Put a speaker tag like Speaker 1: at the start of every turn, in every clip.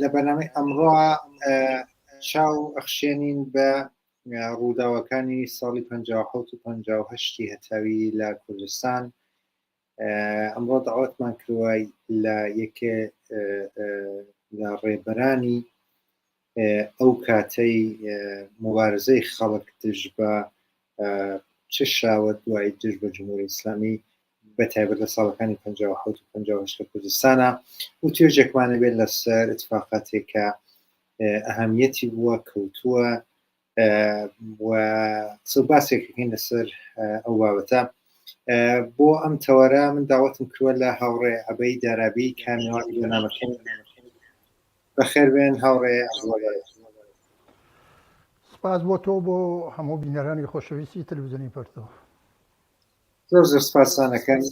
Speaker 1: لە بەنامەی ئەمڕۆ چاو ئەخشێنین بە ڕووداوەکانی ساڵی 1950 هەتاوی لە کوردستان ئەمڕۆ داوەتمان کروای لە یەکێ لە ڕێبەرانی ئەو کاتەی مبارزەی خەڵک دژ بە چ شاوە دوای دژ بە جمهوری ئیسلامی بە تایبەت لە ساڵەکانی 1950 کوردستانە و توێژێکمانە بێت لەسەر اتفاقاتێک کە ئەهمیەتی بووە کەوتووە و قسە باسێکەکەین لەسەر ئەو بابەتە بۆ ئەم تەوەرە من داوەتم کروە لە هاوڕێ ئەبەی دارابی کامیوان بۆ نامەکەن بەخێر بێن هاوڕێ ئەزڵە بەرێز.
Speaker 2: سپاس بۆ تۆ بۆ هەموو بینەرانی خۆشەویستی تەلویزیۆنی پەرتۆ
Speaker 1: زۆر زۆر سپاسانەکەن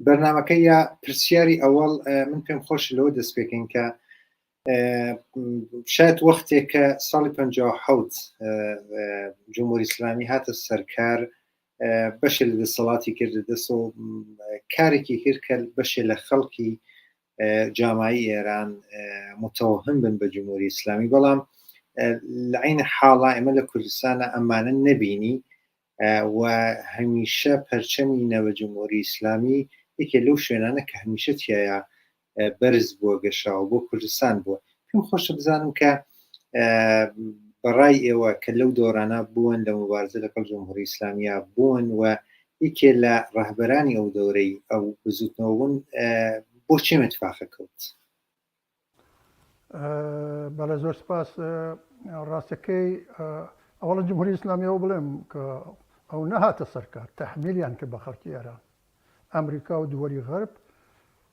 Speaker 1: بەرنمەکە یا پرسیاری ئەوەڵ من پێم خۆش لەوە دەست پێکەین کە شاید وەختێک کە ساڵی 1950 جمهوری ئسلامی هاتە سەرکار بەشێ لە دەسەڵاتی کرد دەست و کارێکی کرد کە بەشێ لە خەڵکی جامایی ئێران متەوهم بن بە جمهوری ئیسلامی بەڵام لە عین حاڵا ئێمە لە کوردستانە ئەمانە نەبینی و هەمیشە پەرچەمی نەوە جمهوری ئیسلامی یەکێ لەو شوێنانە کە هەمیشە تایە بەرز بووە گەشاوە بۆ کوردستان بووە پێم خۆشە بزانم کە بەڕای ئێوە کە لەو دۆرانە بوون لە مبارزە لەگەڵ جمهوری ئیسلامیا بوون و یەکێ لە ڕەهبەرانی ئەو دەورەی ئەو بزوتنەوە بوون بۆ چێ متفاقە کەوت
Speaker 2: بەڵێ زۆر سپاس ڕاستەکەی ئەوڵە جمهوری ئیسلامیەوە بڵێم کە ئەو نەهاتە سەرکار تەحمیلیان کە بە خەڵکی ئێران ئەمریکا و دووەری غەرب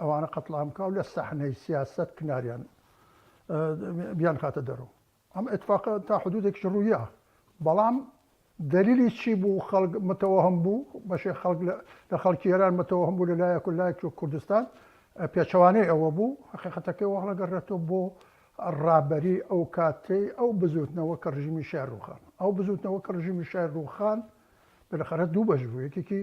Speaker 2: ئەوانە قەتڵام بکا و لە سەحنەی سیاسەت کناریان بیانخاتە دەرو. ئەم ئیتفاقە تا حدودێکیش روویا، بەڵام دەلیلی چی بوو خەڵک متەوەهم بوو، بەشێک خەڵک لە خەڵکی ئێران متەوەهم بوو لە لایەک و لایەکی وەک کوردستان پێچەوانەی ئەوە بوو، هەقیقەتەکەی وا هەڵەگەڕێتەوە بۆ رابەری ئەو کاتەی ئەو بزووتنەوە کە رژیمی شای رووخان. ئەو بزووتنەوە کە رژیمی شای رووخان بلەخەرە دوو بەش بوو، یەکێکی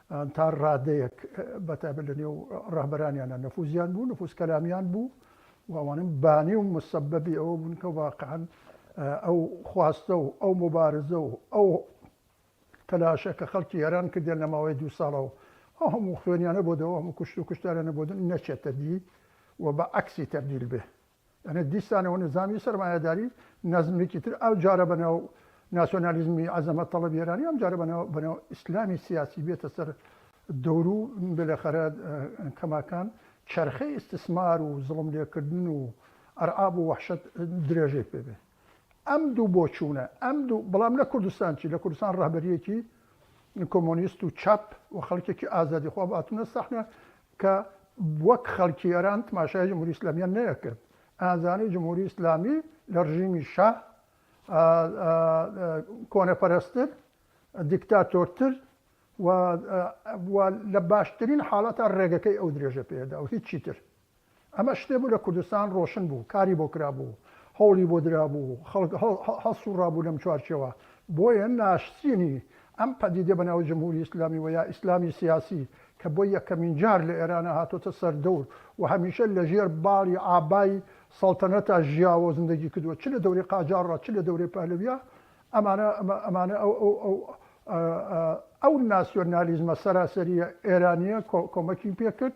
Speaker 2: یان تا ڕادەیەک بە تایبەت لە نێو ڕەهبەرانیاندا نفوزیان بوو، نفوز کەلامیان بوو و ئەوانە بانی و موسەبەبی ئەوە بوون کە واقعەن ئەو خواستە و ئەو موبارزە و ئەو تەلاشە کە خەڵکی ئێران کردیان لە ماوەی دوو ساڵە و ئەو هەموو خوێنیانە بۆ دەوە، ئەو هەموو کوشت و کوشتاریانە بۆ دەن نەچێتە دی و بە عەکسی تەبدیل بێ. ئەنە دیسانە و نزامی سەرمایەداری نەزمێکی تر ئەو جارە بە ناو ناسیۆنالیزمی عەزەمەت تەڵەبی ئێرانی ئەم جارە بە ناو بە ناو ئیسلامی سیاسی بێتە سەر دەور و بلەخەرە کەماکان چەرخەی ئیستسمار و زڵم لێکردن و ئەرعاب و وەحشەت درێژەی پێ بێ ئەم دوو بۆچوونە ئەم دوو بڵام لە کوردستان چی لە کوردستان ڕەهبەریەکی کۆمۆنیست و چاپ و خەڵکێکی ئازادی خۆ باتونە سەحنە کە وەک خەڵکی ئێران تماشای جمهوری ئیسلامیان نەیەکرد ئەیانزانی جمهوری ئیسلامی لە ڕژیمی شا کۆنەپەرستتر دیکتاتۆرتر و لە باشترین حاڵەتە ڕێگەکەی ئەو درێژە پێدا و هیچی تر ئەمە شتێ بوو لە کوردستان ڕۆشن بوو، کاری بۆ کرابوو، هەوڵی بۆ درابوو، خەڵک هەڵسووڕابوو لەم چوارچێوە. بۆیە ناشرینی ئەم پەدیدە بە ناوی جمهوری ئیسلامی و یا ئیسلامی سیاسی کە بۆ یەکەمین جار لە ئێران هاتۆتە سەر دەور و هەمیشە لە ژێر باڵی عابای سەڵتەنەتا ژیاوە و زندگی کردووە چ لە دەورەی قاجاڕ ڕا چ لە دەورەی پەهلەویا ئەمانە ئەمانە ئەو ئەو ئەو ئەو ناسیۆنالیزمە سەراسەرییە ئێرانییە کۆمەکی پێ کرد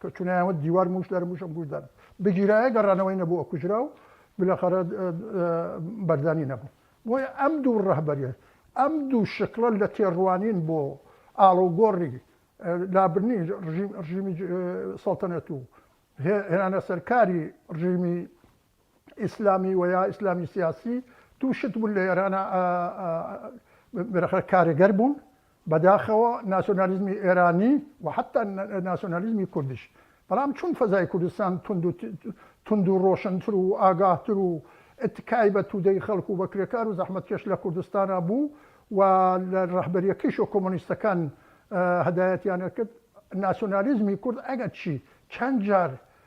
Speaker 2: کە چونە یان وت دیوار موش دارە موش ئەم گوش دارە بگیرایە گەڕانەوەی نەبوو ئەکوژرا و بلەخەرە بەردانی نەبوو بۆیە ئەم دوو ڕەهبەرێ ئەم دوو شکڵە لە تێڕوانین بۆ ئاڵۆگۆڕی لابرنی ڕژیمی سەڵتەنەت و هێنانە سەرکاری ڕژیمی ئیسلامی وەیا ئیسلامی سیاسی تو شت بون لە ئێرانا ئە بەرەخە کارێگەر بون بەداخەوە ناسیۆنالیزمی ئێرانی و حتا ناسیۆنالیزمی کوردیش بەڵام چون فەزای کوردستان توندو توندو ڕۆشنتر و ئاگاهتر و ئتکای بە تودەی خەڵک و بە کرێکار و زەحمەتکێش لە کوردستانا بو و لە ڕەهبەریەکەیش و کۆمۆنیستەکان هەدایەتیان ئەکرد ناسیۆنالیزمی کورد ئەگەر چی چەند جار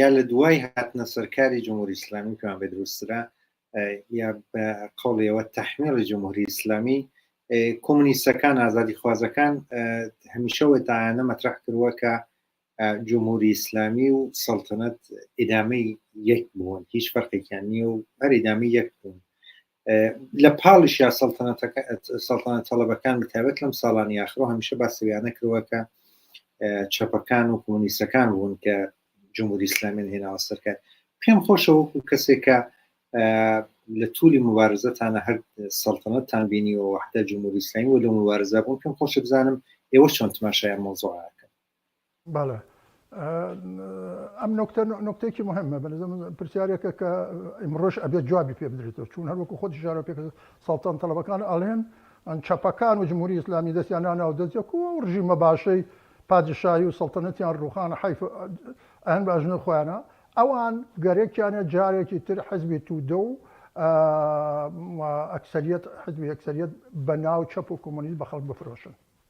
Speaker 1: یا لە دوای هاتنە سەرکاری جمهوری ئیسلامی پێیان بێ دروسترە یا بە قەڵیەوە تەحمیڵی جمهوری ئیسلامی کۆمونیستەکان ئازادی خوازەکان هەمیشەوە تاانە مەترح کردووە کە جمهوری ئیسلامی و سەڵتەنەت ئیدامەی یەک بوون هیچ فەرقێکیان نییە و هەر ئیدامی یەک بوون لە پاڵیشیا سەڵتانە تەڵەبەکان بەتابەت لەم ساڵانی یاخڕۆ هەمیشە باسەویانە کردوە کە چەپەکان و کۆمونیستەکان بوون کە جمهوری ئسلامین هێناوە سەرکار پێم خۆشە وەکو کەسێکە لە تولی مبارزەتانە هەر سەڵتەنەتان بینی و وحدە جمهوری ئسلامی و لە مبارزە بوون پێم خۆشە بزانم ئێوە چۆن تماشایان مۆزۆعەکە
Speaker 2: بەڵێ ئەم نۆکتە نۆکتێکی مهمە بەنزم پرسیارێکە کە ئیمڕۆژ ئەبێت جوابی پێ بدرێتەوە چون هەروەکو خۆ شارە پێ ساڵتان تەڵەبەکان ئەڵێن ئەن چەپەکان و جمهوری ئسلامی دەستیان ناو دەستەکو و ڕژیمە باشەی پادشایی و سەڵتەنەتیان ڕوخان حیف ئەن باژنە خۆیانە ئەوان گەرەکیانە جارێکی تر حزبی تودە و ئەکسریت حزبی ئەکسریت بە ناو چەپ و کۆمۆنیست بە خەڵک بفرۆشن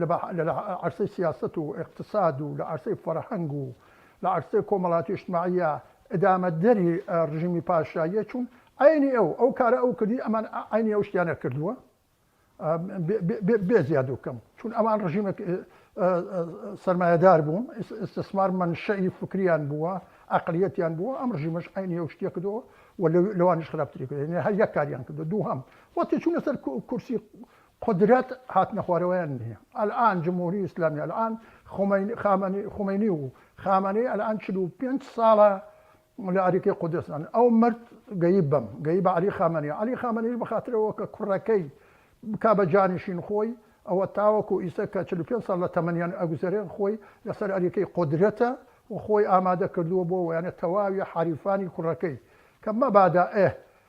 Speaker 2: لە عەرسەی سیاسەت و ئیقتساد و لە عەرسەی فەرهەنگ و لە عەرسەی کۆمەڵاتی و ئیجتماعیە ئیدامەدەری ڕژیمی پاشاییە چوون عەینی ئەو ئەو کارە ئەو کردی ئەمان عەینی ئەو شتیانە کردووە بێ زیاد و کەم چوون ئەمان ڕژیمێک سەرمایەدار بوون ئیستسمار مەنشەئی فکریان بووە عەقلیەتیان بووە ئەم ڕژیمەش عەینی ئەو شتیە کردووە و لەوانیش خراپتری کردێنێ هەر یەک کاریان کردو دووهەم وەتی چوونە سەر کورسی قودرەت هاتنە خوارەوەیان نیە ئەلئان جمهوری ئیسلامی ئەلئان خومەینی و خامەنەی ئەلئان چل و پێنج ساڵە لە ئەریکەی قودسن ئەو مرد گەیی بەم گەیی بە عەلی خامەنەی عەلی خامەنەیش بە خاتر ئەوە کە کوڕەکەی بکا بە جانشین خۆی ئەوە تاوەکو ئیستا کە چل و پێنج ساڵ لە تەمەنیان ئەگوزەرێن خۆی لە سەر ئەریکەی قودرەتە و خۆی ئامادە کردووە بۆ ئەوەیانە تەواوی حەریفانی کوڕەکەی کە مەبادا ئه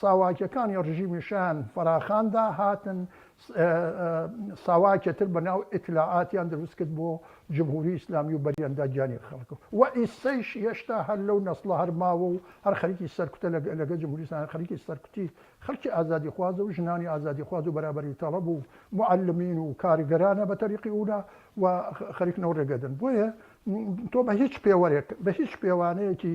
Speaker 2: ساواکیەکانی ڕژیمی شایان فەراخاندا هاتن ساواکێ تر بە ناو ئیتلاعاتیان دروست کرد بۆ جمهوری ئیسلامی و بەریاندا گیانی خەڵک و ئیسەیش هێشتا هەر لەو نەسڵە هەر ماوە و هەر خەریکی سەرکوتە لەگە جمهوری ئیسلامی خەریکی سەرکوتی خەڵکی ئازادی خوازە و ژنانی ئازادی خواز و بەرابەری تەڵەب و معەلمین و کارگەرانە بە تەریقی ئولا و خەریک نەوڕێگەدن بۆیە تۆ بە هیچ پێوەرێک بە هیچ پێوانەیەکی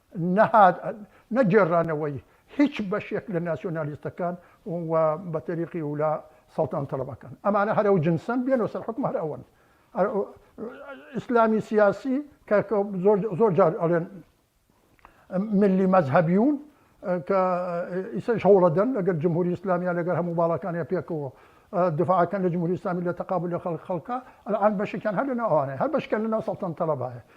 Speaker 2: نەهات نە گێڕانەوەی هیچ بەشێک لە ناسیۆنالیستەکان و بە تەریقی ولا سەڵتەنە تەڵەبەکان ئەمانە هەر ئەو جنسەن بێنەوە سەر حوکم هەر ئەوەن ئیسلامی سیاسی کە زۆر جار ئەڵێن ملی مەزهبیون کە ئیسەش هەوڵەدەن لەگەر جمهوری ئیسلامیان لەگەر هەموو باڵەکانە پێکەوە دفاعەکەن لە جمهوری ئیسلامی لە تەقابل لە خەڵک خەڵکە ئەلان بەشێکیان هەر لەناو ئەوانەیە هەر بەشکەن لەناو سەڵتەنە تەڵەبایە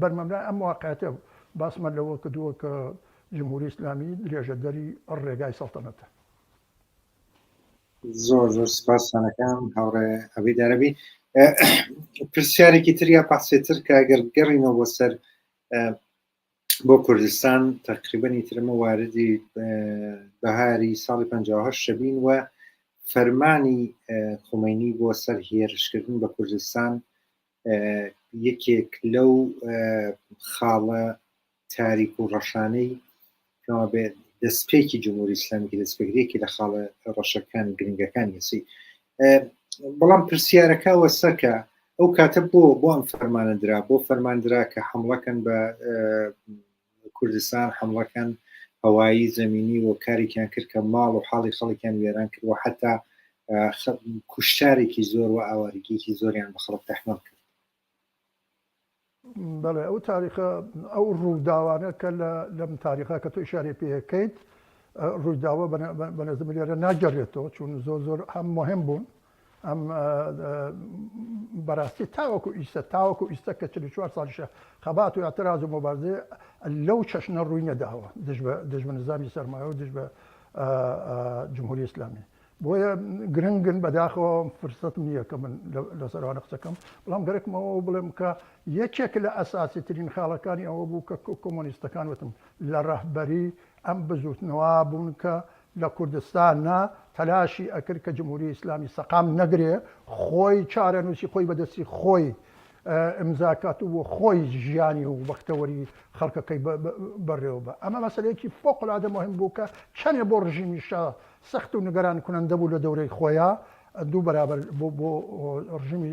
Speaker 2: بەرمەبنای ئەم واقعیەتە باسمان لەوە کردووە کە جمهوری ئیسلامی درێژەدەری ئەڕ ڕێگای سەڵتەنەتە.
Speaker 1: زۆر زۆر سپاستان ئەکەم هاوڕێ عەبید عەرەبی. پرسیارێکی تر یا پەحسێ تر کە ئەگەر بگەڕینەوە بۆ سەر بۆ کوردستان تەقریبەنی ترمە واردی بەهاری ساڵی 1950 شەبین و فەرمانی خومەینی بۆ سەر هێرشکردن بە کوردستان یەکێک لەو خاڵە تاریک و ڕەشانەی کەوا بێ دەستپێکی جمهوری ئسلامیکی دەستپێگرێکی لە خاڵە ڕەشەکان گرنگەکان یسی بەڵام پرسیارەکە وەسەکە ئەو کاتە بۆ بۆ ئەم فەرمانە درا بۆ فەرماندرا کە حملەکەن بە کوردستان حەمڵەکان هەوایی زەمینی و کارێکیان کرد کە ماڵ و حاڵی خەڵکیان وێران کرد و حتا کوشتارێکی زۆر و ئاوارگیکی زۆریان بە خەڵک تەحمەڵ کرد
Speaker 2: بەڵێ ئەو تاریخە ئەو ڕووداوانە کە لەم تاریخە کە تۆی شاری پێەکەیت ڕووداوە بەنەزم لێرە ناگەڕێتەوە چون زۆر زۆر هەم مهم بوون ئەم بەراستی تاوەکو ئیستە تاوەکو ئیستە کە چل و چوار ساڵیشە خەبات و ئاتراز و مۆبارزێ لەو چەشنە ڕووی نەداوە دژ بە نزامی سەرمایە و دژ بە جمهوری ئیسلامی بۆیە گرنگن بەداخەوە فرسەت نییە کە من لەسەروانە قسەکەم بەڵام گەرەکمەوە بڵێم کە یەکێک لە ئەساسی ترین خاڵەکانی ئەوە بوو کە کۆمۆنیستەکان وتم لە ڕەهبەری ئەم بزوتنەوە بوون کە لە کوردستان نا تەلاشی ئەکرد کە جمهوری ئیسلامی سەقام نەگرێ خۆی چارەنوسی خۆی بە دەستی خۆی ئیمزا کات و خۆی ژیانی و بەختەوەری خەڵکەکەی بە رێوە بە ئەمە مەسەلەیەکی فوقلادە موهیم بوو کە چەنێ بۆ رژیمی شا سەخت و نگەران کونەندە بوو لە دەورەی خۆیا دوو بەرابەر بۆ رژیمی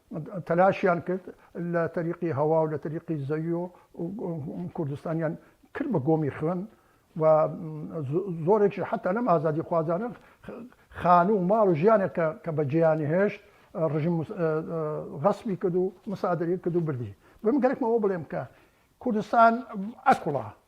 Speaker 2: تەلاشیان کرد لە تەریقی هەوا و لە تەریقی زەوی و کوردستانیان کرد بە گۆمی خوێن و زۆرێکیش حەتا لەم ئازادی خوازانە خانوو و ماڵ و ژیانێک کە بە جێیانی هێشت ڕژیم غەسبی کرد و مسادەری کرد و بردی بم گەرەکمەوە بڵێم کە کوردستان ئەکوڵا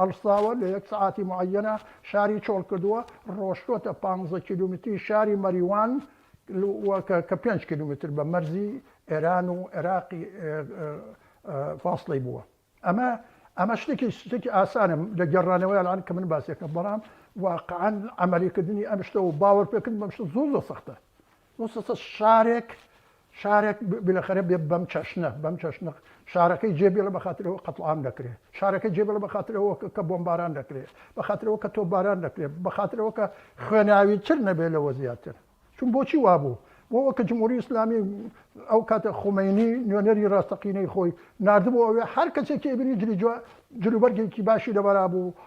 Speaker 2: هەڵساوە لە یەک سەعاتی معەیەنە شاری چۆڵ کردووە ڕۆشتووەتە پانزە کیلومتری شاری مەریوان و کە پێنج کیلومتر بە مەرزی ئێران و عێراقی فاصلەی بووە ئەمە ئەمە شتێکی شتێکی ئاسانە لە گەڕانەوەی ئەلان کە من باسیەکەم بەڵام واقعەن عملیکردنی ئەم شتە و باوەڕپێکردن بەم شتە زۆر زۆر سەختە موسسە شارێک شارێک بلەخەرە بێ بەم چەشنە بەم چەشنە شارەکەی جێ بێڵە بەخاترەوە قەتڵام دەکرێ شارەکە جێ بڵە بەخاترەوە کە بۆمباران دەکرێ بەخاترەوە کە تۆ باران دەکرێ بەخاترەوە کە خوێناوی تر نەبێ لەوە زیاتر چون بۆچی وابوو بۆ وەکە جمهوری ئسلامی ئەو کاتە خۆمەینی نوێنەری ڕاستەقینەی خۆی نردبوو ئەوێ هەر کەسێکی ئەبینی جلی جلوبەرگێکی باشی لەبەرا بوو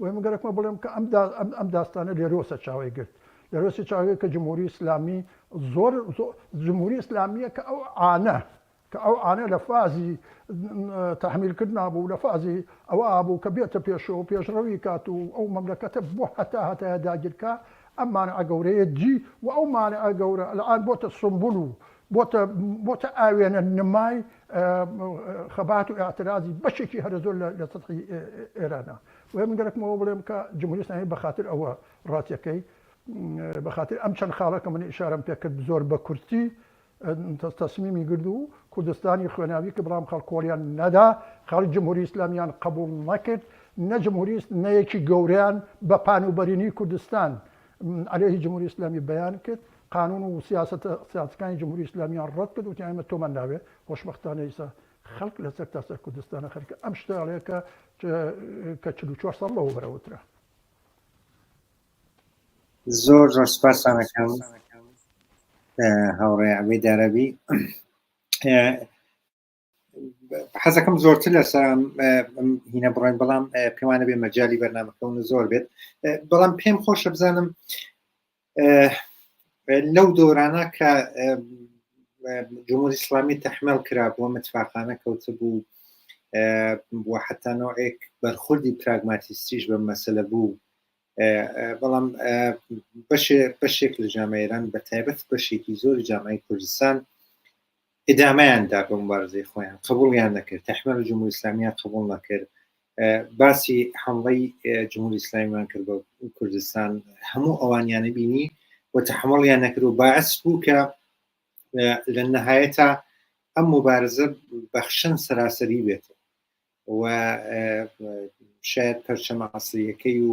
Speaker 2: وە من گەرەکمە بڵێم کە ئەم داستانە لێرۆسە چاوەی گرت لێرۆسی چاوەی گرت کە جمهوری ئیسلامی زۆر جمهوری ئیسلامیە کە ئەو عانە کە ئەو عانە لە فازی تحمیل کردنا بوو لە فازی ئەوە بوو کە بێتە پێشەوە پێشڕەوی کات و ئەو مەملەکەتە بۆ هەتا هەتایە داگیرکا ئەم مانعە گەورەیە جی و ئەو مانعە گەورە الان بۆتە سمبول و بۆتە بۆتە ئاوێنە نمای خەبات و ئیعترازی بەشێکی هەرە زۆر لە لە سەتحی ئێرانە. بۆیە من گەرەکمەوە بڵێم کە جمهوری ئیسلامی بە خاتر ئەوە ڕاستیەکەی بە خاتر ئەم چەند خاڵە کە من ئیشارەم پێ کرد زۆر بە کورتی تەسمیمی گرد و کوردستانی خوێناوی کە بەڵام خەڵکۆڵیان نەدا خەڵک جمهوری ئیسلامیان قبول نەکرد نە جمهوریست نەیەکی گەوریان بە پان و بەرینی کوردستان عەلەیه جمهوری ئیسلامی بەیان کرد قانون و سیاسەتە سیاسیەکانی جمهوری ئیسلامیان ڕەت کرد وتیان ئێمە تۆمان ناوێ خۆشبەختانە ئیستا خەڵک لە سەرتاسەر کوردستانە خەریکە ئەم شتە ئەڵێ کە کە چل و چوار ساڵ لەوە بەرە وترا
Speaker 1: زۆر زۆر سپاسان ئەکەم هاوڕێ عەبید عەرەبی حەزەکەم زۆرتر لە سەرام هینە بڕێن بەڵام پێوانە بێ مەجای بەرنمەکەون زۆر بێت بەڵام پێم خۆشە بزانم لەو دۆرانە کە جمهوری ئسلامی تەحمل کرا بۆ متفاقانە کەوت بوو بۆ حتانەوەێک بەرخوردی پراگماتیستیش بە مەسلە بوو بەڵام بەشێک لە جامعێران بە تایبەت بەشێکی زۆری جامعی کوردستان ئیدامەیان دا بە موبارزەی خۆیان قبوڵیان نەکرد تەحمەل و جمهوری ئیسلامیان قبوڵ نەکرد باسی حمڵەی جمهوری ئیسلامیمان کرد بە کوردستان هەموو ئەوانیانە بینی و تەحمڵیان نەکرد و باعث بوو کە لە نەهایەتا ئەم مبارزە بەخشن سەراسەری بێت و شاید پەرچەمە عسریەکەی و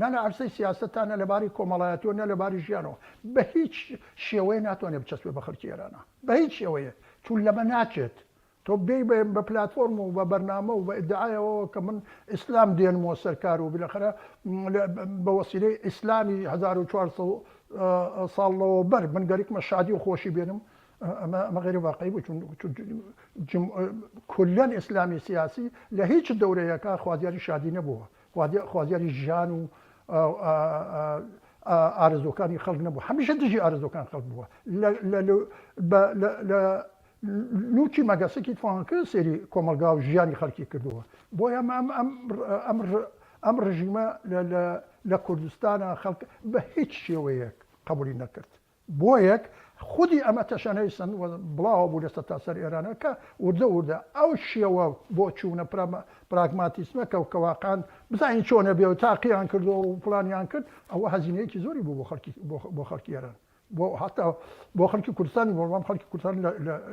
Speaker 2: نە لە عەرزەی سیاسەت تا نە لە باری کۆمەڵایەتی و نە لە باری ژیانەوە بە هیچ شێوەیە ناتوانێت بچەسپێت بە خەلکی ئێرانا بە هیچ شێوەیەک چون لەمە ناچێت تۆ بێی بە بە پلاتفۆرم و بە بەرنامە و بە ئیدعای ئەوەوە کە من ئیسلام دێنمەوە سەر کار و بیلەخەرە بە وەسیلەی ئیسلامی هەزار و چوار سەد ساڵ لەوەوبەر من گەرکمە شادی و خۆشی بێنم ئەمە ئەمە غەیرە واقعی بوو چون چون جم کولەن ئیسلامی سیاسی لە هیچ دەورەیەکە خوازیاری شادی نەبووە خوازیاری ژیان و ئارەزووەکانی خەڵک نەبووە، هەمیشە دژی ئارەزووەکانی خەڵک بووە. لە لووتی مەگەسەکی فڕانکە سەیری کۆمەڵگا و ژیانی خەڵکی کردووە. بۆیە ئەم ڕژیمە لە کوردستانا خەڵک بە هیچ شێوەیەک قەبووڵی نەکرد. بۆیەک خودی ئەمە تەشەنەی سەند و بڵاوە بوو لە سەرتاسەر ئێرانەوە کە وردە وردە ئەو شێوە بۆ چوونە پراگماتیسمە کە کە واقعەن بزانین چۆنە بێ و تاقییان کردووە و فڵانیان کرد ئەوە هەزینەیەکی زۆری بوو بۆ خەڵکی بۆ خەڵکی ئێران بۆ هەتا بۆ خەڵکی کوردستانی بەڵام خەڵکی کوردستان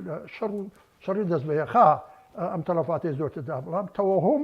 Speaker 2: لە شەڕ و شەڕی دەست بەیەخا ئەم تەڵەفاتەی زۆرتر دا بەڵام تەوەهوم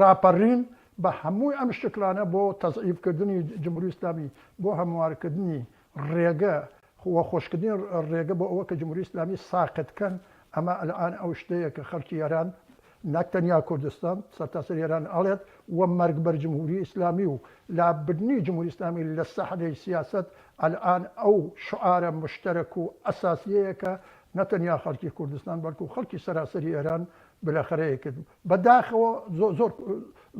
Speaker 2: ڕاپەڕین بە هەموو ئەم شکڵانە بۆ تەزعیف کردنی جمهوری ئیسلامی، بۆ هەموارکردنی ڕێگە و خۆشکردنی ڕێگە بۆ ئەوە کە جمهوری ئیسلامی ساقت کەن، ئەمە ئەلئان ئەو شتەیە کە خەڵکی ئێران نەک تەنیا کوردستان سەرتاسەری ئێران ئەڵێت و مەرگ بەر جمهوری ئیسلامی و لابردنی جمهوری ئیسلامی لە سەحنەی سیاسەت ئەلئان ئەو شعارە مشتەرەک و ئەساسیەیە کە نەتەنیا خەڵکی کوردستان بەڵکو خەڵکی سەراسەری ئێران بلەخەرەی کرد بە داخەوە زۆر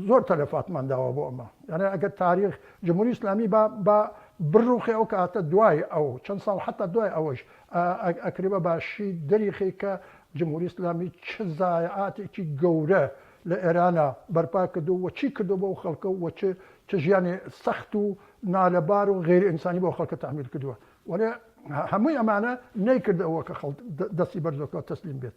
Speaker 2: زۆر تەلەفاتمان داوە بۆ ئەمە یانێ ئەگەر تاریخ جمهوری ئیسلامی با با بڕوخێ ئەو کاتە دوای ئەو چەند ساڵ حەتا دوای ئەوەش ئەکرێ بە باشی دەریخی کە جمهوری ئیسلامی چ زایعاتێکی گەورە لە ئێرانا بەرپا کردو و چی کردو بۆ ئەو خەڵکە و چ چ ژیانێ سەخت و نالەبار و غەیر ئینسانی بۆ خەڵکە تەحمیل کردوە وەلێ هەمووی ئەمانە نەیکرد ئەوە کە خەڵک دەستی بەرزۆکەوە تەسلیم بێت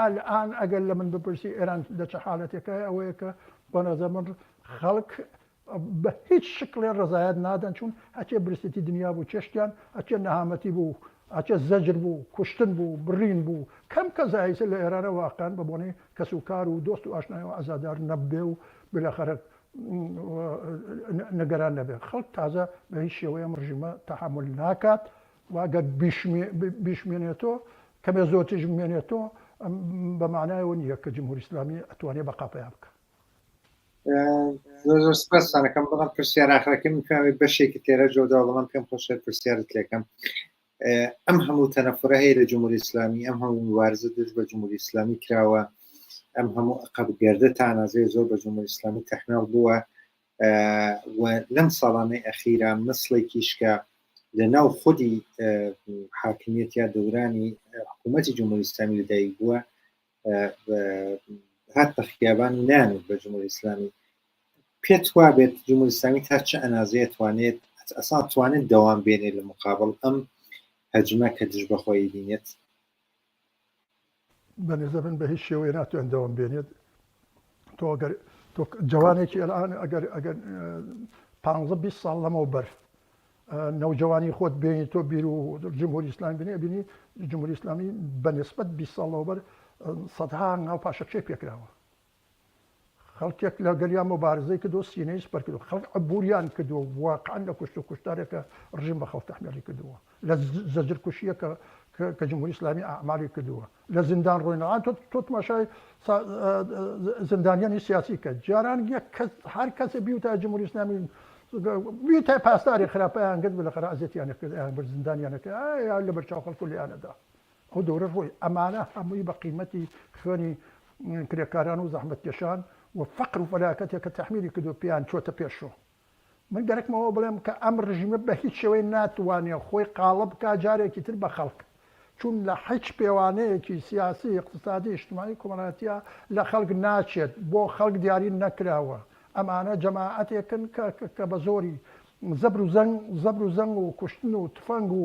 Speaker 2: ئەلئان ئەگەر لە من بپرسی ئێران لە چ حالەتێکایە ئەوەیە کە بە نەزەر من خەڵک بە هیچ شکڵێ ڕەزایەت نادەن چون ئەچێ برسێتی دنیا بوو چێشتیان ئەچێ نەهامەتی بوو ئەچێ زەجر بوو کوشتن بوو بڕین بوو کەم کە زایسە لە ئێرانە واقعەن بە بۆنەی کەس و کار و دۆست و ئاشنایەوە عەزادار نەبێ و بلاخەرە نگەران نەبێ خەڵک تازە بە هیچ شێوەیەم ڕژیمە تەحەمول ناکات وە گەر بیشمێنێتۆ کەمێ زۆرتریش بمێنێتۆ ئەم بە مانایەوە نییە کە جمهوری ئیسلامی ئەتوانێ بەقا پەیا بکا. زۆر
Speaker 1: زۆر سپاسانەکەم بەڵام پرسیار ئاخرەکەی من پێوێت بەشێکی تێرە جۆدا بەڵام پێم خۆشە پرسیارت لێکەم ئەم هەموو تەنەفرە هەیە لە جمهوری ئسلامی ئەم هەموو مبارزە دژ بە جمهوری ئسلامی کراوە ئەم هەموو قەبگەردە تانازێ زۆر بە جمهوری ئسلامی تەحناڵ بووە و لەم ساڵانەی ئەخیرا مسڵێکیش کە لە ناو خودی حاکمیت یا دەورانی حکوومەتی جمهوری ئسلامی لەدایک بووە هات بە خیابان و نان بە جمهوری ئسلامی پێت وا بێت جمهوری ئسلامی تا چه ئەنازەیە توانێت ئەسا توانێت دەوام بێنێت لە مقابل ئەم هەجمە کە دژ بەخۆی بینێت
Speaker 2: بەنیزە من بەهیچ شێوەیە ناتوان دەوام بێنێت تۆ گەر تۆ جوانێکی ئەلان ئەگەر ئەگەر پ ساڵ لەمەوە بەر نەوجوانی خۆت بینی تۆ بیر و جمهوری ئسلام بینی بینی جمهوری ئسلامی بەنسبت 20 ساڵەوە بەر سەدها ناو پاشەکشەی پێکراوە خەڵکێک لە گەلیا مبارزەی کردو سینەی سپر کردو خەڵک عبوریان کردوە و واقعەن لە کوشتو کوشتارێک کە ڕژیم بە خەڵک تەحمیلی کردوە لە زەجر کوشیەک کە کە جمهوری ئیسلامی ئەعمالی کردوە لە زیندان ڕۆی نەهات تۆ تۆ تماشای زیندانیانی سیاسی کە جاران یەک کەس هەر کەسێ بیوتە جمهوری ئیسلامی بیوتە پاسداری خراپیان کرد بلەخرا ئەزێتیانە کرد یان بر زیندانیانە کرد یا لە بەرچاو خەڵکو لێیانەدا ئەو دەورە ڕۆی ئەمانە هەمووی بە قیمەتی خوێنی کرێکاران و زەحمەتکێشان و فەقر و فەلاکەتێک کە تەحمیلی کردووە پێیان چۆتە پێشۆ. من گەرەکمە ئەوە بڵێم کە ئەم ڕژیمە بە هیچ شێوەیە ناتوانێ خۆی قاڵب بکا جارێکی تر بە خەڵک، چون لە حیچ پێوانەیەکی سیاسی، ئیقتسادی، ئیشتمایی، کۆمەڵایەتیا لە خەڵک ناچێت، بۆ خەڵک دیاری نەکراوە. ئەمانە جەماعەتێکن کە کە بە زۆری زەبر و زەنگ زەبر و زەنگ و کوشتن و تفەنگ و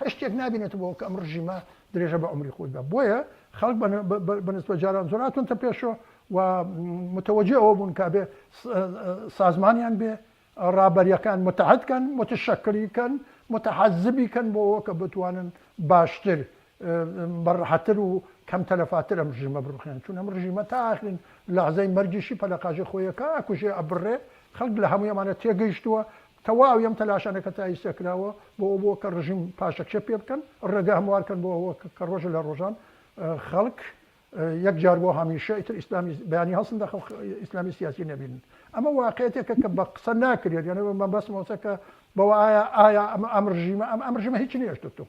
Speaker 2: هەچ شتێک نابینێتە بۆ ئەوکە ئەم ڕژیمە درێژە بە عومری خۆی بدا بۆیە خەڵک بە نسبەت جاران زۆرا تونتە پێشۆ و متەوەجێ ئەوە بوون کە ئەبێ سازمانیان بێ ڕابەریەکان متحد کەن متشەکری کەن متحەزبی کەن بۆ ئەوە کە بتوانن باشتر بە ڕەحەتتر و کەم تەلەفاتر ئەم ڕژیمە بڕوخێن چون ئەم ڕژیمە تا ئاخرین لەحزەی مەرگیشی پەلەقاژی خۆیەکە ئەکوژێ ئەبڕێ خەڵک لە هەموو ئەمانە تێگەیشتووە تەواوی ئەم تەلاشانە کە تا ئیستا کراوە بۆ ئەوە بووە کە ڕژیم پاشەکشە پێ بکەن، ڕێگە هەموار بکەن بۆ ئەوە کە ڕۆژێ لە ڕۆژان خەڵک یەک جار بۆ هەمیشە ئیتر ئیسلامی بیانی هەڵسن خەڵک ئیسلامی سیاسی نەبینن. ئەمە واقعیەتێکە کە بە قسە ناکرێت، یانێ مەبەستمە کە بەوە ئایا ئایا ئەم ڕژیمە ئەم ڕژیمە هیچی نەهێشتووەتەوە.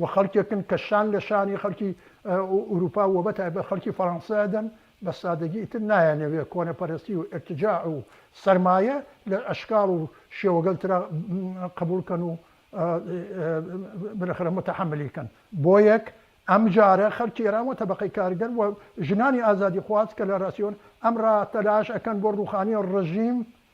Speaker 2: و خەڵکێکن کە شان لە شانی خەڵکی ئوروپا و بە تایبەت خەڵکی فەرانسە ئەدەن، بە سادەگی ئیتر نایانەوێ کۆنەپەرەستی و ئیرتجاع و سەرمایە لە ئەشکاڵ و شێوەگەل ترا قەبووڵ کەن و بلخرە متەحەملی کەن. بۆیەک ئەم جارە خەڵکی ئێران و تەبەقەی کارگەر و ژنانی ئازادیخواز کە لە راسیۆن ئەم را تەلاش ئەکەن بۆ رووخانی رژیم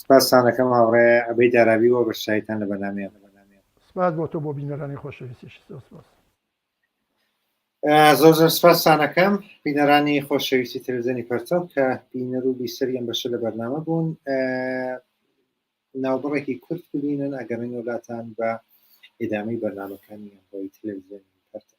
Speaker 1: سپاستان ئەکەم هاوڕێ عەبەی دارابی بۆ بەشداریتان لە بەرنامەیەم. سپاس بۆ
Speaker 2: تۆ بۆ بینەرانی خۆشەویستیشت زۆر سپاس.
Speaker 1: زۆر زۆر سپاستانەکەم بینەرانی خۆشەویستی تەلەزیۆنی پەرتەو کە بینەر و بیسەری ئەم بەشە لە بەرنامە بوون ناوبڕێکی کورت ببینن ئەگەڕین وڵاتان بە ئێدامەی بەرنمەکانی ئەمڕۆی تەلەزیۆنی پەرتەو